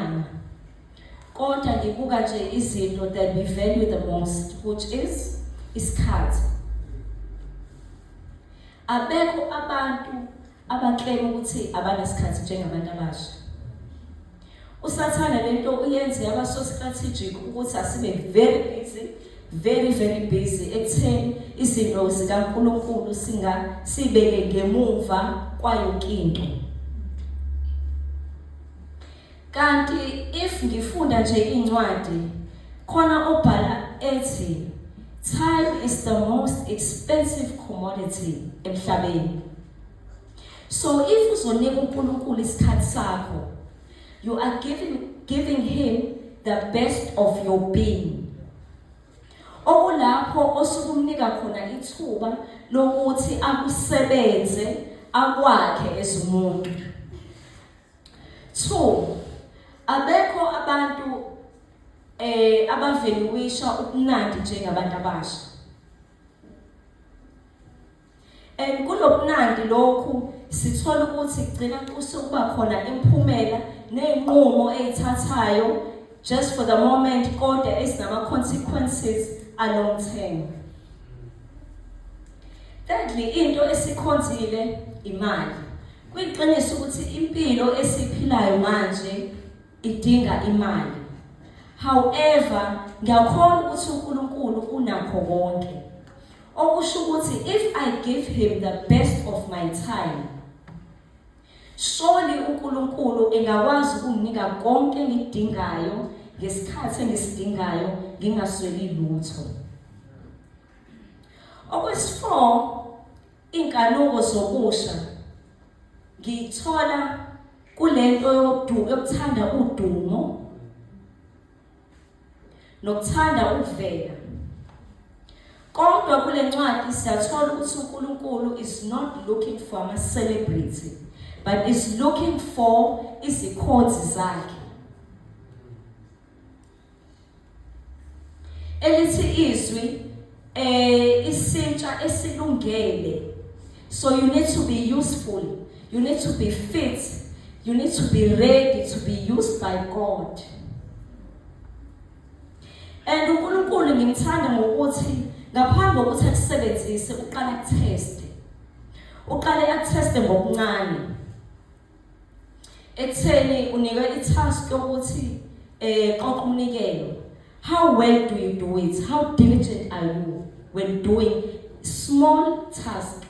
Ngiyahlangana. Kodwa ngibuka nje izinto that we value the most which is isikhathi. Abekho abantu abaclaim ukuthi abanasikhathi njengabantu abasha. Usathana lento uyenze yaba so strategic ukuthi asibe very busy very very busy ekutheni izinto zikaNkulunkulu singa sibeke ngemuva kwayo into kanti if ngifunda nje incwadi khona obhala ethi time is the most expensive commodity emhlabeni so if uzonika uNkulunkulu isikhathi sakho you are giving giving him the best of your being okulapho osukumnika khona ithuba lokuthi akusebenze akwakhe ezumuntu 2 abekho abantu eh abaveluwisha ubunandi njengabantu abasha and kulobunandi lokhu sithola ukuthi kugcina kusukuba khona imphumela nezinqumo ezithathayo just for the moment kodwa esinama consequences a long term thirdly into esikhonzile imali Kuyiqiniso ukuthi impilo esiphilayo manje idinga imali. However, ngiyakholwa ukuthi uNkulunkulu unakho konke. Okusho ukuthi if I give him the best of my time, surely uNkulunkulu engakwazi ukunginika konke engidingayo ngesikhathi engisidingayo ngingasweli lutho. Okwesi-4 Inkanuko zokusha ngiyithola kulento yodu yokuthanda udumo nokuthanda ukuvela. Kodwa kule ncwadi siyathola ukuthi uNkulunkulu is not looking for ama celebrity but is looking for izikhonzi zakhe. elithi izwi eh isintsha esilungele so you need to be useful you need to be fit you need to be ready to be used by God and uNkulunkulu ngimthanda ngokuthi ngaphambi kokuthi akusebenzise uqala kuteste uqale akuteste ngokuncane ekutheni unikwe i-task yokuthi eh qoqa umnikelo how well do you do it how diligent are you when doing small task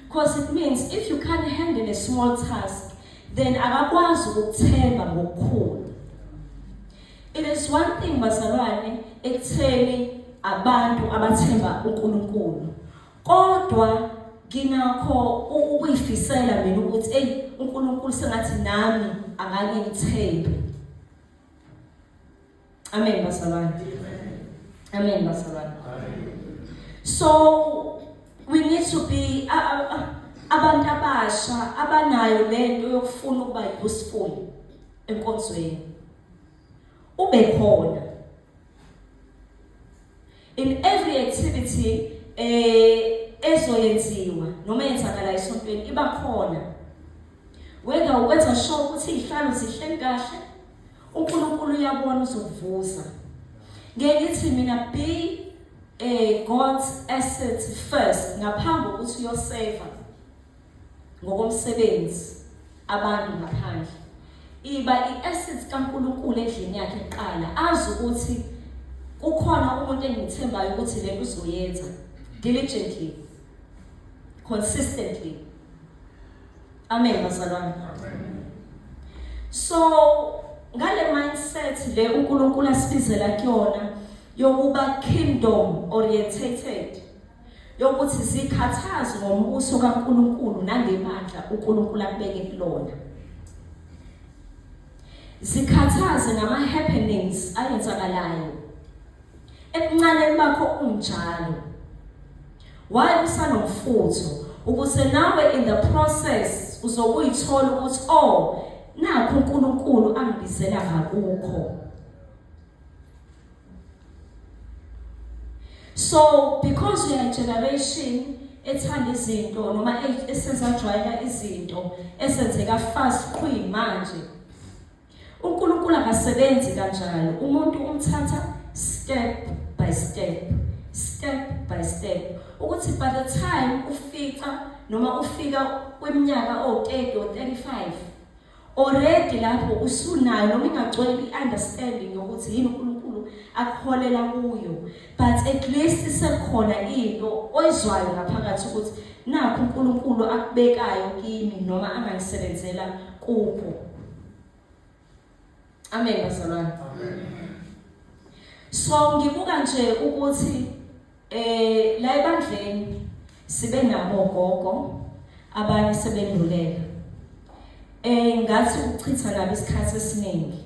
because it means if you can't handle a small task then akakwazi ukuthemba ngokukhulu it is one thing bazalwane ekutheni abantu abathemba uNkulunkulu Kodwa nginakho ukuyifisela mina ukuthi eyi uNkulunkulu sengathi nami akanye ngithembe. Amen bazalwane. Amen bazalwane. So we need to be uh, uh, uh, abantu abasha abanayo lento yokufuna ukuba useful enkonzweni. Ube khona in every activity eh ezoyenziwa noma yenzakala esontweni iba khona whether ukwenza sure ukuthi izihlalo zihleli kahle uNkulunkulu uyabona uzokuvuza ngeke ngithi mina be a God's asset first ngaphambi kokuthi uyoseva ngokomsebenzi abantu ngaphandle iba i-assets kaNkulunkulu endlini yakhe kuqala azi ukuthi kukhona umuntu engimthembayo ukuthi le uzoyenza diligently consistently amen bazalwane so ngale mindset le uNkulunkulu asibizela kuyona yokuba kingdom orientated yokuthi zikhathazwe ngombuso kaNkulunkulu nangebandla uNkulunkulu akubeke kulona zikhathaze ngama-happenings ayenzakalayo ebuncaneni bakho unjalo waye usanomfutho ukuze nawe in the process uzokuyithola ukuthi oh nakho uNkulunkulu angibizela ngakukho so because we are a generation ethanda izinto noma e-, esezajwayela izinto esenzeka fast queen manje uNkulunkulu akasebenzi kanjalo umuntu umthatha step by step step by step ukuthi by the time ufica noma ufika kweminyaka o30 or 35 Already lapho usunayo noma ingagcwele i-understanding yokuthi yini uNkulunkulu akuholela kuyo but at least sekhona into oyizwayo ngaphakathi ukuthi nakho uNkulunkulu akubekayo kimi noma anganisebenzela kupho Amen bazalwane. Amen. So ngibuka nje ukuthi eh la ebandleni sibe nabo gogo abanye sebendulela. Eh ngathi ukuchitha nabo isikhathi esiningi.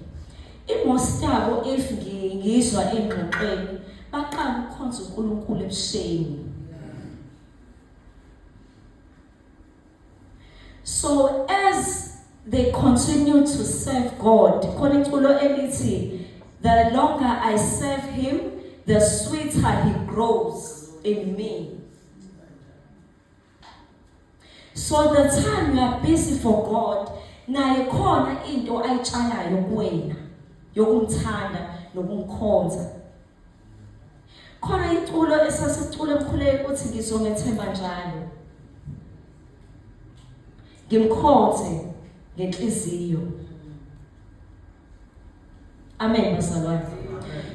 Imosi yabo if ngiyizwa engxoxweni baqala ukukhonza uNkulunkulu ebusheni. So as they continue to serve God, khona iculo elithi the longer I serve him, the sweeter he grows in me. So the time you are busy for God, naye khona into ayitshalayo kuwena yokumthanda nokumkhonza. khona iculo esasicula emkhuleke ukuthi ngizomethemba njalo ngimkhonze ngenhliziyo amen bazalwane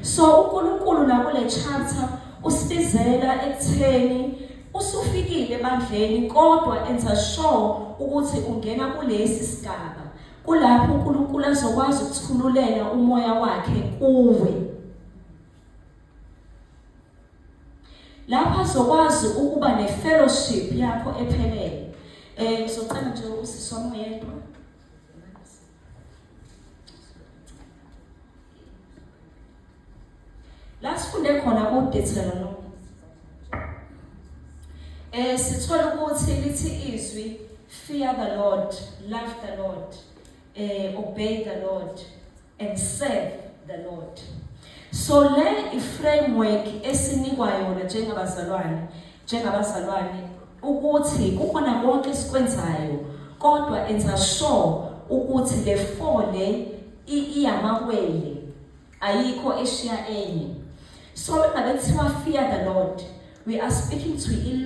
so uNkulunkulu nakule charter usibizela ekutheni usufikile ebandleni kodwa enza sure ukuthi ungena kulesi sigaba Kulapho uNkulunkulu azokwazi ukuthululela umoya wakhe kuwe. Lapho azokwazi ukuba nefellowship yakho ephelele. Eh ngizoqala nje usisi wami oyedwa. la sifunde khona kuDeuteronomi eh sithola ukuthi lithi izwi fear the Lord love the Lord eh obey the Lord and serve the Lord so le iframework esinikwa yona njengabazalwane njengabazalwane ukuthi kukhona konke esikwenzayo kodwa enza sure ukuthi le fone iyamawele ayikho eshiya enye so ngabe kuthiwa fear the lord we are speaking to i